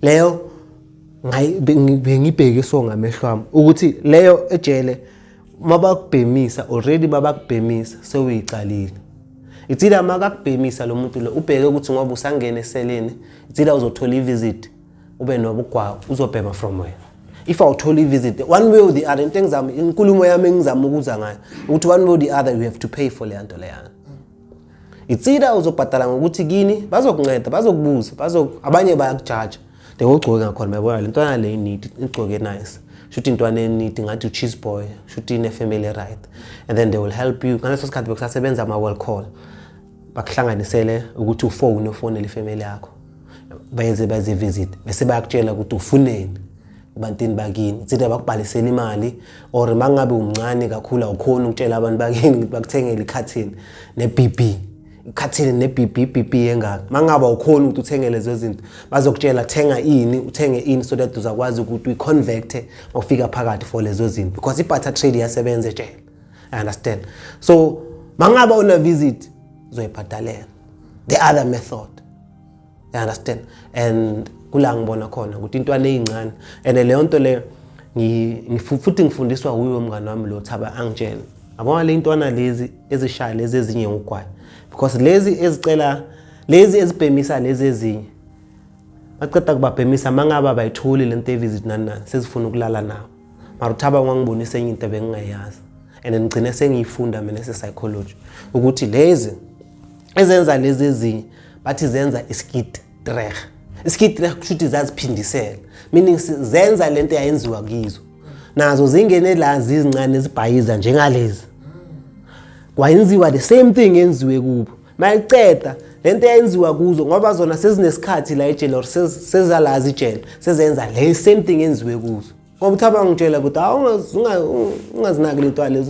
leyo bengibheke so ngamehlo wami ukuthi leyo ejele mabakubhemisa already babakubhemisa sewuyicalile itsila makakubhemisa lo muntu lo ubheke ukuthi ngoba usangene eseleni itsila uzothola ivisit ube nobugwawu uzobhema from wena if awuthola ivisit one way or the other into engizama inkulumo yami engizama ukuza ngayo ukuthi one way or the other you have to pay for le nto leyana It's either uzobhadala ngokuthi kini bazokunceda bazokubuza bazo abanye bayakujaja they will gcoke ngakhona bayabona le ntwana le need igcoke nice shuthi intwana enidi ngathi u-cheese boy shuthi ine-family right and then they will help you ngaleso sikhathi bekusasebenza ama-well call bakuhlanganisele ukuthi ufone ufonele ifamily yakho bayenze baze visit bese bayakutshela ukuthi ufuneni ebantwini bakini uthi abakubhalisela imali or mangabe umncane kakhulu awukhona ukutshela abantu bakini ukuthi bakuthengele ikhathini ne-BB ikhathini ne-BB BB engaka mangabe awukhona ukuthi uthenge lezo zinto bazokutshela thenga ini uthenge ini so that uzakwazi ukuthi uyi-convecte mawufika phakathi for lezo zinto because i-butter trade iyasebenza etshela i understand so mangabe una-visit uzoyibhadalela the other method you understand and kula ngibona khona ukuthi intwana eyincane and leyo nto leyo futhi ngifundiswa wuye umngani wami lo thaba angitshela abona le ntwana lezi ezishaya lezi ezinye ngugwayo because lezi ezicela lezi ezibhemisa lezi ezinye baqeda kubabhemisa mangaba bayitholi le nto evisit nani nani sezifuna ukulala nawo mara uthaba wangibonisa enye into bengingayazi and ngigcine sengiyifunda mina se-psychology ukuthi lezi ezenza lezi ezinye bathi zenza iskit dreh iskit dreh kusho ukuthi zaziphindisela meaning zenza le nto yayenziwa kizo nazo zingene la zizincane zibhayiza njengalezi kwayenziwa the same thing yenziwe kubo mayiceda lento eyenziwa kuzo ngoba zona sezinesikhathi la ejele or sezalazi ijele sezenza le same thing enziwe kuzo ngoba uthi abangitshela ukuthi hawu ungazinaki lentwale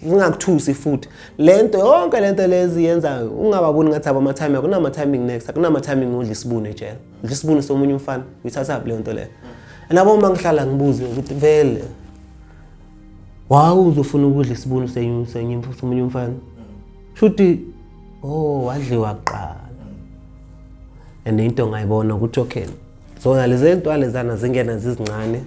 zingakuthusi futhi le nto yonke le nto lezi yenzayo ungababoni ngathi abamathiming akunamathiming next akunamathiming udla isibuni ejele udla isibuni somunye umfana uyithathaphi leyo nto leyo and abo uma ngihlala ngibuze ukuthi vele wawu uzofuna ukudla isibuni somunye umfana shuthi oh wadliwa kuqala and into ngayibona ukuthi okay zona lezi ntwale zana zingena zizincane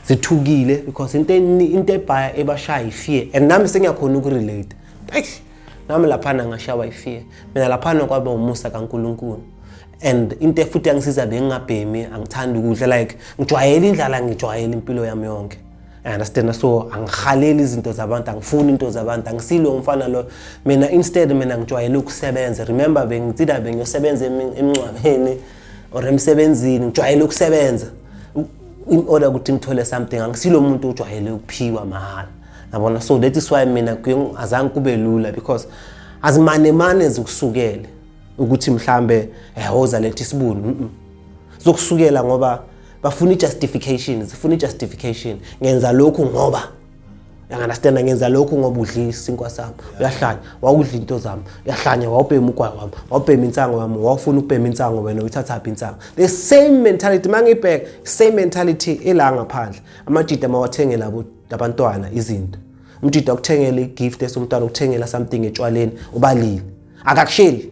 zithukile because into into ebhaya ebashaya ifear and nami sengiyakhona ukurelate eish nami laphana ngashawa ifear mina laphana kwaba umusa kaNkuluNkulu and into futhi yangisiza bengingabhemi angithanda ukudla like ngijwayele indlala ngijwayele impilo yami yonke I understand so angikhaleli izinto zabantu angifuni into zabantu angisilo umfana lo mina instead mina ngijwayele ukusebenza remember bengitsida bengiyosebenza emncwabeni or emsebenzini ngijwayele ukusebenza in order ukuthi ngithole something angisilo umuntu ojwayele ukuphiwa mahhala yabona so that is why mina azange kube lula because azimanemane zikusukele ukuthi mhlambe ehoza eh, lethi isibuni zokusukela ngoba bafuna i-justification sifuna i-justification ngenza lokhu ngoba uyanganastanda ngenza lokhu ngoba udlile isinkwa sami uyahlanya wawudla into zami uyahlanya wawubhema ugwayi wami wawubhema insango yami wawufuna ukubhema insango wena uyithathaphi insango the same mentality uma ngibheka same mentality ela ngaphandle amajida mawathenge labo labantwana izinto umjida ukuthengela i-gift esomntwana ukuthengela something etshwaleni ubalile akakusheli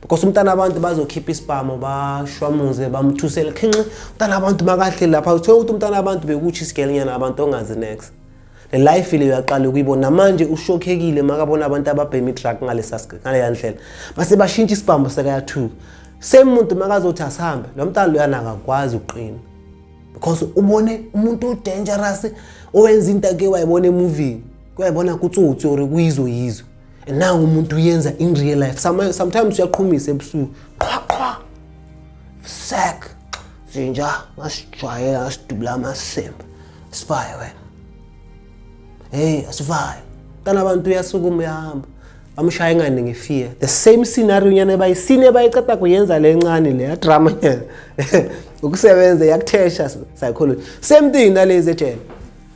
because umntana abantu bazokhipha isibhamu bashwamuze bamthusele khinxi umntana abantu makahle lapha uthola ukuthi umntana abantu bekutsho isigelenyana abantu ongazi next le life le uyaqala ukuyibona namanje ushokhekile makabona abantu ababhema idrug ngaleya ndlela base bashintsha isibhamu sekayathuka same muntu makazothi asihambe lo mntana loyana akakwazi ukuqina because ubone umuntu odangerous owenza into ake wayibona emuvini kuyayibona kutsotsi or kuyizo yizo na umuntu uyenza in real life sometimes uyaqhumisa ebusuku qhwa qhwa sek zinja ngasijwayela ngasidubula amasembe sivaye wena heyi asivaye kana abantu uyasukuma uyahamba amshaye ngane ngefear the same scenario nyana bayisini ebayiceda kuyenza le ncane le yadrama nyana ukusebenza yakuthesha psychology same thing nalezi ejele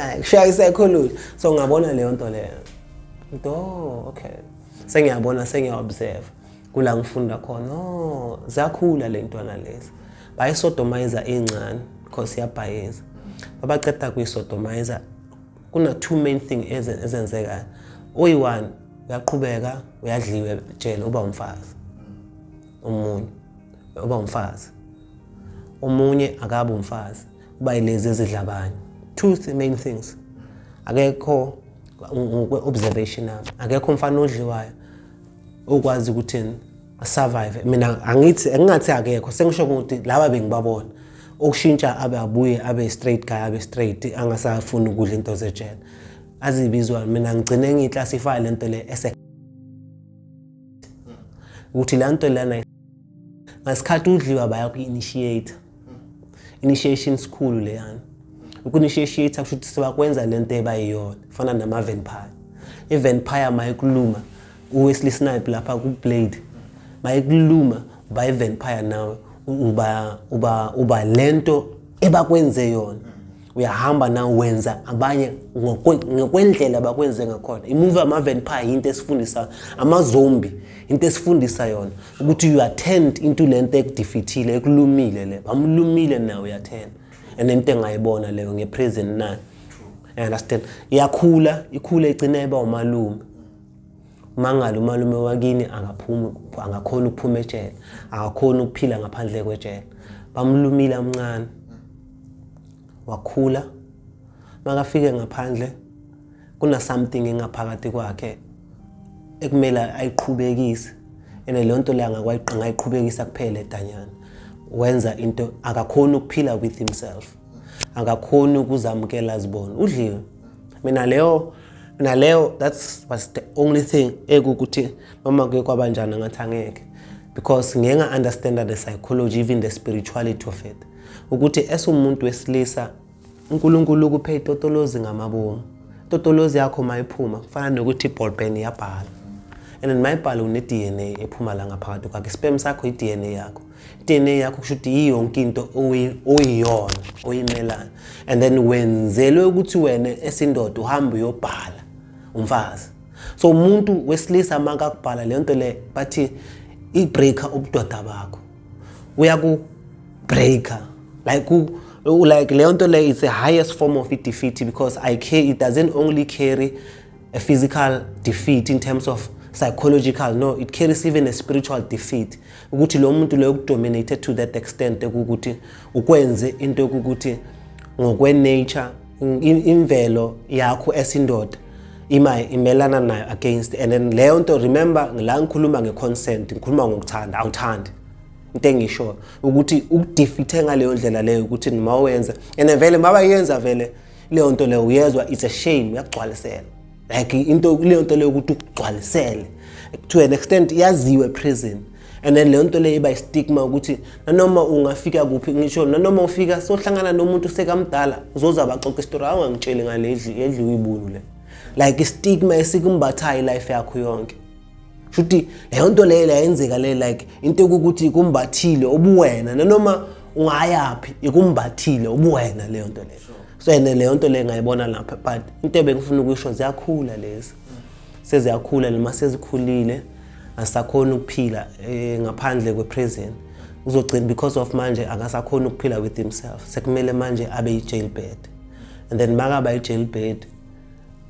Ay, kushaya isekhulule. So ngabona leyo nto leyo. Nto, okay. Sengiyabona, sengiya-observe. Kula ngifunda khona, oh, ziyakhula le ntwana lezi. Bayisodomayiza incane, because iyabhayiza. Babaqeda kuyisodomayiza. Kuna two main thing ezen- ezenzekayo. Oyi-one, uyaqhubeka, uyadliwa ejele, uba umfazi. Omunye, uba umfazi. Omunye akabe umfazi. kuba ilezi ezidla abanye two th main things akekho ngokwe-observation yami akekho umfana odliwayo okwazi ukuthi survive mina angithi engingathi akekho sengisho ukuthi laba bengibabona okushintsha abe abuye abe straight guy abe straight angasafuni ukudla into zejele azibizwa mina ngigcine ngiyiclassify lento le ese ukuthi lento lana ngasikhathi udliwa bayaku-initiate initiation sikhulu leyana uku-initiate kusho ukuthi sebakwenza le nto ebayiyona fana nama-vampire i-vampire mayikuluma uwesley snipe lapha ku-blade mayikuluma uba i-vampire nawe uba uba uba le nto ebakwenze yona uyahamba na wenza abanye ngokwendlela bakwenze ngakhona imuvi yama-vampire yinto esifundisa amazombi into esifundisa yona ukuthi you attend into le nto ekudifithile ekulumile le bamlumile nawe uyathenda and into engayibona leyo ngepresent nayo understand iyakhula ikhula igcina iba umalume Mangala umalume wakini angaphumi angakhona ukuphuma ejele akakhona ukuphila ngaphandle kwejele bamlumile amncane wakhula makafike ngaphandle kuna something engaphakathi kwakhe ekumele ayiqhubekise ene leyo nto leyo angakwayiqhubekisa kuphela edanyana wenza into akakhona ukuphila with himself akakhona ukuzamukela zibona udliwe mina leyo naleyo that was the only thing ekukuthi noma kuye kwaba njani angathi angeke because ngeke nga-understanda the psychology even the spirituality of it ukuthi esumuntu wesilisa unkulunkulu ukuphe itotolozi ngamabomu itotolozi yakho uma iphuma kufana nokuthi iballpen iyabhala and mayibhala une-d n a ephuma la ngaphakathi kwakhe isipem sakho i-d n a yakho DNA yakho kusho ukuthi yiyo yonke into oyiyona oyimelana and then wenzelwe ukuthi wena esindoda uhambe uyobhala umfazi so umuntu wesilisa makakubhala le nto le bathi i-breaker ubudoda bakho uyaku-breaker like like leyo nto leyo is the highest form of i-defeat because I care, it doesn't only carry a physical defeat in terms of psychological no it carries even a spiritual defeat ukuthi lo muntu loyo kudominate to that extent ukuthi ukwenze into ukuthi ngokwenature imvelo yakho esindoda ima imelana nayo against and then leyo nto remember la ngikhuluma ngeconsent ngikhuluma ngokuthanda awuthandi into engisho ukuthi ukudefeathe ngaleyo ndlela leyo ukuthi nima wenza and vele maba yenza vele leyo nto leyo uyezwa it's a shame uyakugcwalisela like into leyo nto leyo ukuthi ukugcwalisele to an extent yaziwe prison and then leyo nto leyo iba istigma ukuthi nanoma ungafika kuphi ngisho nanoma ufika sohlangana nomuntu sekamdala uzoza baxoxa isitori hawu ngangitsheli ngale edliwe ibulu le like istigma esikumbathayo ilife yakho yonke shuthi leyo nto leyo layenzeka le like into yokuthi ikumbathile ubuwena nanoma ungayaphi ikumbathile ubuwena leyo nto leyo so and leyo nto leyo ngayibona lapha but into ebengifuna ukuyisho ziyakhula lezi seziyakhula noma sezikhulile asakhona ukuphila eh, ngaphandle kweprison uzogcina because of manje akasakhona ukuphila with himself sekumele manje abe yi-jailbed and then makaba yi-jailbed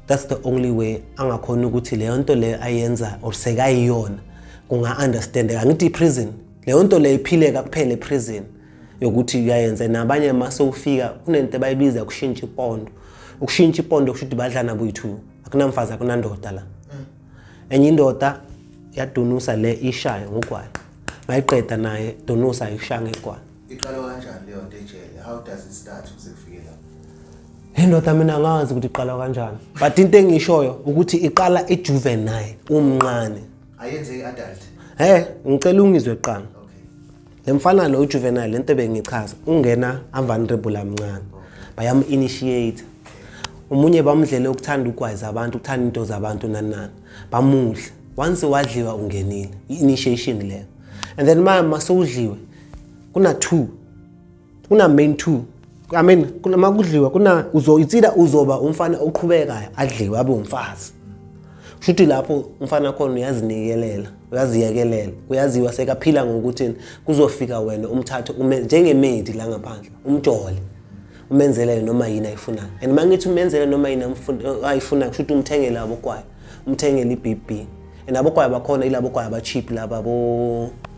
that's the only way angakhona ukuthi leyo nto leyo ayenza or sekayiyona kunga-understandeka angithi i-prison leyo nto leyo iphileka kuphela e-prison yokuthi uyayenza nabanye ma sewufika kunento ebayibiza ukushintsha ipondo ukushintsha ipondo kusho ukuthi badlana boyi-two akunamfazi akunandoda la mm. enye indoda yadunusa le ishaye ngogwayi mayiqeda naye dunusa ishaya ngegwayi iqale kanjani leyo nto ejele how does it start ukuze kufike lapho Hey ndoda mina ngazi ukuthi iqala kanjani but into engishoyo ukuthi iqala ijuvenile umncane ayenze iadult he ngicela ungizwe qala le mfana lo ujuvenile lento bengichaza ungena avulnerable amncane bayamu initiate umunye bamdlele ukuthanda ukwazi abantu ukuthanda into zabantu nanani bamudla once wadliwa ungenile initiation leyo and then mama masewudliwe kuna two kuna main two I mean kunama kudliwa kuna uzo itsida uzoba umfana oqhubekayo adliwe abe umfazi shuthi lapho umfana khona uyazinikelela uyaziyekelela uyaziwa sekaphila ngokuthi kuzofika wena umthathe ume njengemedi la ngaphandle umjole umenzelele noma yini ayifunayo and uma ngithi umenzele noma yini ayifunayo kusho ukuthi umthengele abokwayo umthengele i-b b and abokwayo bakhona ilabokwayo aba-cheap laba bo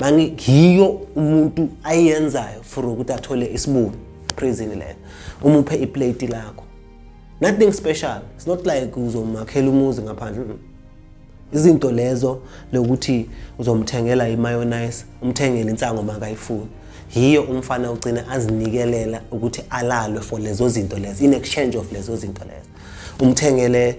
mani yiyo umuntu ayenzayo for ukuthi athole isibuni prison leyo umuphe iplate lakho nothing special it's not like uzomakhela umuzi ngaphandle mm. izinto lezo lokuthi uzomthengela imayonnaise umthengele insango makayifuni yiyo umfana ugcine azinikelela ukuthi alalwe for lezo zinto lezo in exchange of lezo zinto lezo umthengele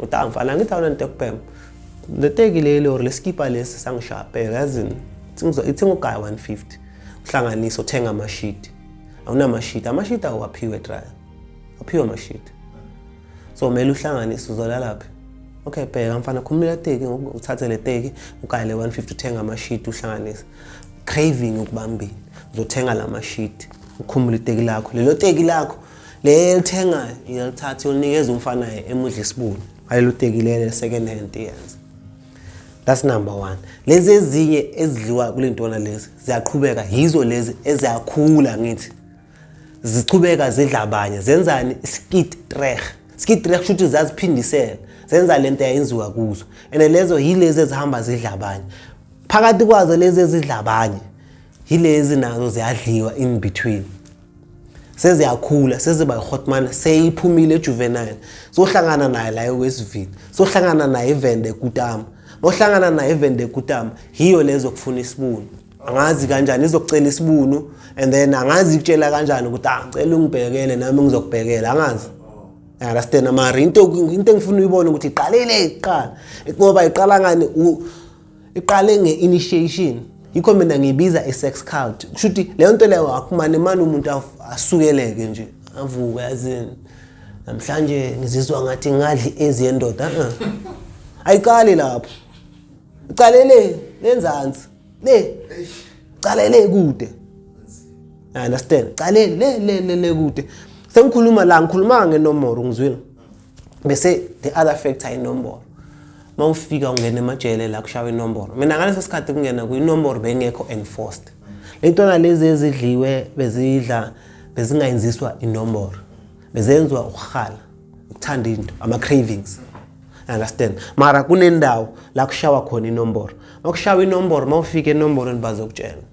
Uta mfana angithi awunanto yokubhema. Le teki leli or lesikipa lesi sangishapela yazini. Ithinga ugaya 150. Uhlanganise uthenga amashidi. Awunamashidi. Amashidi awaphiwe dryer. Aphiwe amashidi. So mele uhlanganise uzolala phi? okay bheka mfana khumula teki uthathe le teki ugaye le 150 uthenga amashidi uhlanganise craving ukubambile uzothenga la mashidi ukhumule iteki lakho lelo teki lakho le elithengayo iyalithatha iyonikeza umfana emudla isibulu ayilutekilele second hand yes that's number one lezi ezinye ezidliwa kule ntwana lezi ziyaqhubeka yizo lezi eziyakhula ngithi zichubeka zidla abanye zenzani skid trek skid trek kusho ukuthi zaziphindisela zenza le nto yayenziwa kuzo and lezo yilezi ezihamba zidla abanye phakathi kwazo lezi ezidla abanye yilezi nazo ziyadliwa in between seziyakhula seziba yihotman seyiphumile ejuvenile sohlangana naye la ewestville sohlangana naye ivende ekutama nohlangana naye ivende ekutama yiyo lezo kufuna isibuni angazi kanjani izokucela isibunu and then angazi ikutshela kanjani ukuthi ah ngicela ungibhekele nami ngizokubhekela angazi understand mara into into engifuna uyibone ukuthi iqalile iqala ngoba iqala ngani iqale nge-initiation yikho mina ngiyibiza i-sex cult kusho ukuthi leyo nto leyo akumane mane umuntu asukeleke nje avuke yazini namhlanje ngizizwa ngathi ngadli ezi yendoda uh-uh. ayiqali lapho iqale le lenzansi le qale le kude i understand qale le le le kude sengikhuluma la ngikhuluma ngenombolo ngizwile bese the other factor inombolo uma ufika ungena emajele la kushawa inombolo mina ngaleso sikhathi kungena kuyinombolo bengekho enforced lentwana lezi ezidliwe bezidla bezingayenziswa inombolo bezenziwa ukuhala ukuthanda into ama-cravings understand mara kunendawo la kushawa khona inombolo uma kushawa inombolo uma ufika enombolweni bazokutshela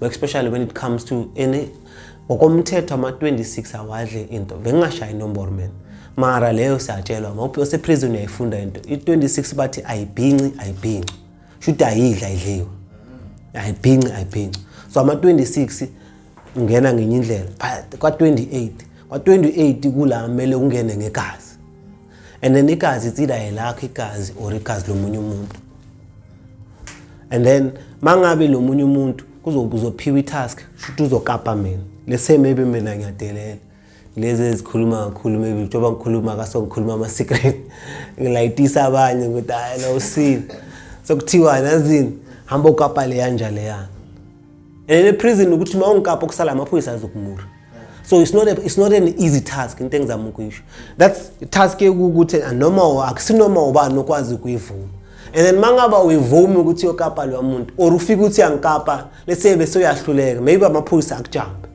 especially when it comes to any ngokomthetho ama-26 awadle into bengingashayi inomboro mina mara leyo siyatshelwa ngoba oseprison uyayifunda into i-26 bathi ayibhinci ayibhinci shuthi ayidla idliwe ayibhinci ayibhinci so ama-26 ungena ngenye indlela kwa-28 kwa-28 kula kumele ungene ngegazi and then igazi it's either elakho igazi or igazi lomunye umuntu and then mangabe lo munye umuntu kuzophiwa i-task shuthi uzokapa mina lese maybe mina ngiyadelela lezi ezikhuluma kakhulu maybe njengoba ngikhuluma kaso ngikhuluma ama-secret ngilayitisa abanye ukuthi hayi na usile sekuthiwa nazini hamba ukapa leya nja leyana and eprison ukuthi uma ungikapa kusala amaphoyisa azokumura so it's not, a, it's not an easy task into engizama ukuyisho that's task yokuthi noma akusinoma ubani okwazi ukuyivuma and then mangaba uyivumi ukuthi yokapa lo muntu or ufika ukuthi angikapa lese bese uyahluleka maybe amaphoyisa akujambe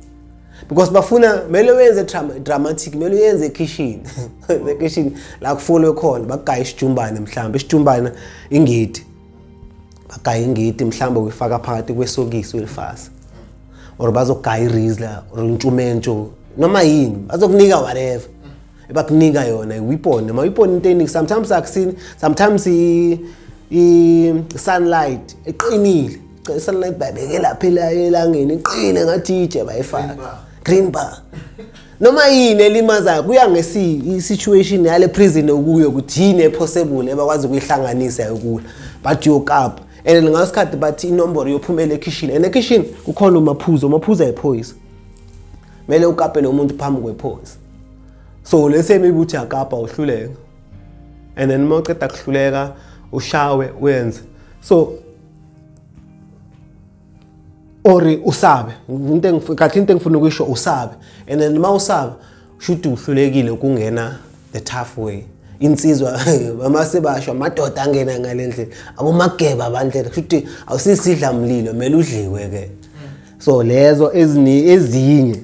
because bafuna mele wenze dramatic mele uyenze ekhishini ekhishini la kufolwe khona bagaya isijumbane mhlawumbe isijumbane ingidi bagaya ingidi mhlawumbe uyifaka phakathi kwesokisi uyilifasa or bazogaya irizla or intshumentsho noma yini bazokunika whatever ebakunika yona iwipone noma iwipone into eningi sometimes akusini sometimes i-sunlight eqinile i-sunlight babeke lapha elangeni iqine ngathi itshe bayifaka green bar noma yini elimazayo kuya ngesituation yale prison okuyo ukuthi yini ephosebule ebakwazi ukuyihlanganisa yokula but yokapa and ngaso sikhathi bathi inombolo yophumela ekhishini and ekhishini kukhona umaphuzo umaphuzo ayiphoyisa kumele ukapele umuntu phambi kwephoyisa so lesemi ukuthi akapa uhluleka and then uma uceda kuhluleka ushawe uyenze so or usabe into engikahle into engifuna ukuyisho usabe and then uma usaba shuthi uhlulekile ukungena the tough way insizwa bamase basho amadoda angena ngale ndlela abomageba bandlela shuthi awusisidla mlilo mele udliwe ke so lezo ezini ezinye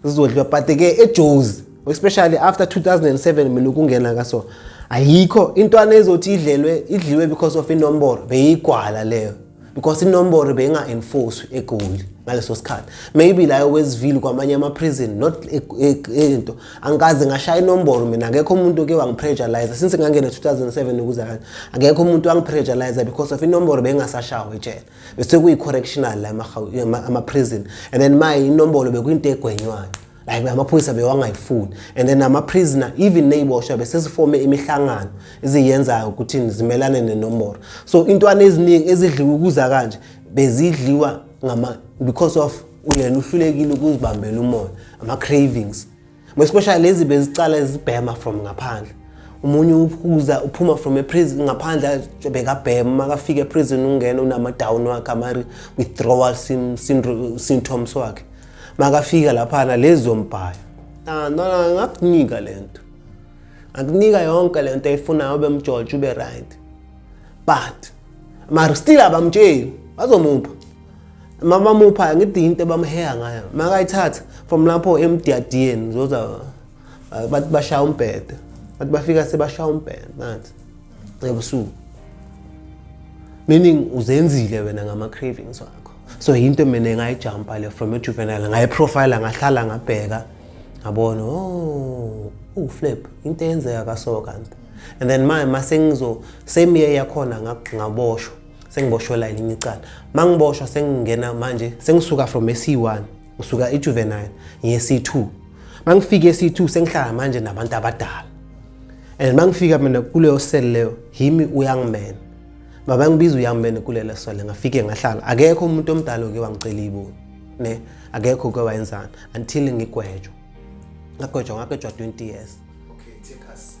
sizodliwa but ke ejozi especially after 2007 mina ukungena ka so ayikho intwana ezothi idlelwe idliwe because of inombolo beyigwala leyo because inomboro beyinga-enforcwe egoli ngaleso sikhathi maybe layo wezivile kwamanye ama-prison not e, e, e, into angikaze ngashaya inomboro mina akekho umuntu oke wangipressurize since ngangena 2007 ukuze kanje akekho umuntu wangipressurize because of inomboro beyingasashawo ejele bese kuyi-correctional la ama-prison and then maye inombolo bekuyinto egwenywayo like amaphoyisa bewangayifuni and then ama-prisoner even ney'boshwa besesifome imihlangano eziyenzayo ukuthi zimelane nenomboro so intwana eziningi ezidliwa ukuza kanje bezidliwa because of uyena uhlulekile ukuzibambela umoya ama-cravings especially lezi bezicala zibhema from ngaphandle umunye uphuza uphuma from eprison ngaphandle bekabhema makafika eprison ungena unama-down wakhe ama-withdrawal symptoms wakhe makafika laphana lezombhaya ah, nona ngakunika le nto akunika yonke le nto ayifunayo ube mjoje ube right but mara still abamtsheli bazomupha uma bamupha ngithi into bamheha ngayo makayithatha from lapho emdiyadiyeni zoza bathi bashaya umbhede bathi bafika sebashaya umbhede nathi ebusuku meaning uzenzile wena ngama-cravings wakho so yinto mina ngayijumpa le from ejuvenile ngayiprofayila ngahlala ngabheka ngabona oh uwuflip into eyenzeka kaso kanti and then manje mase ngizo same year yakhona ngaboshwa sengiboshwe la elinye icala mangiboshwa sengingena manje sengisuka from AC1 ngisuka ejuvenile ngiye C2 mangifike C2 sengihlala manje nabantu abadala and mangifika mina kuleyo cell leyo himi uyangimena baba ngibiza uyamene kulele sole ngafike ngahlala akekho umuntu omdala oke wangicela iboni ne akekho ke wayenzana until ngigwejwa ngagwejwa ngagwejwa 20 years okay take us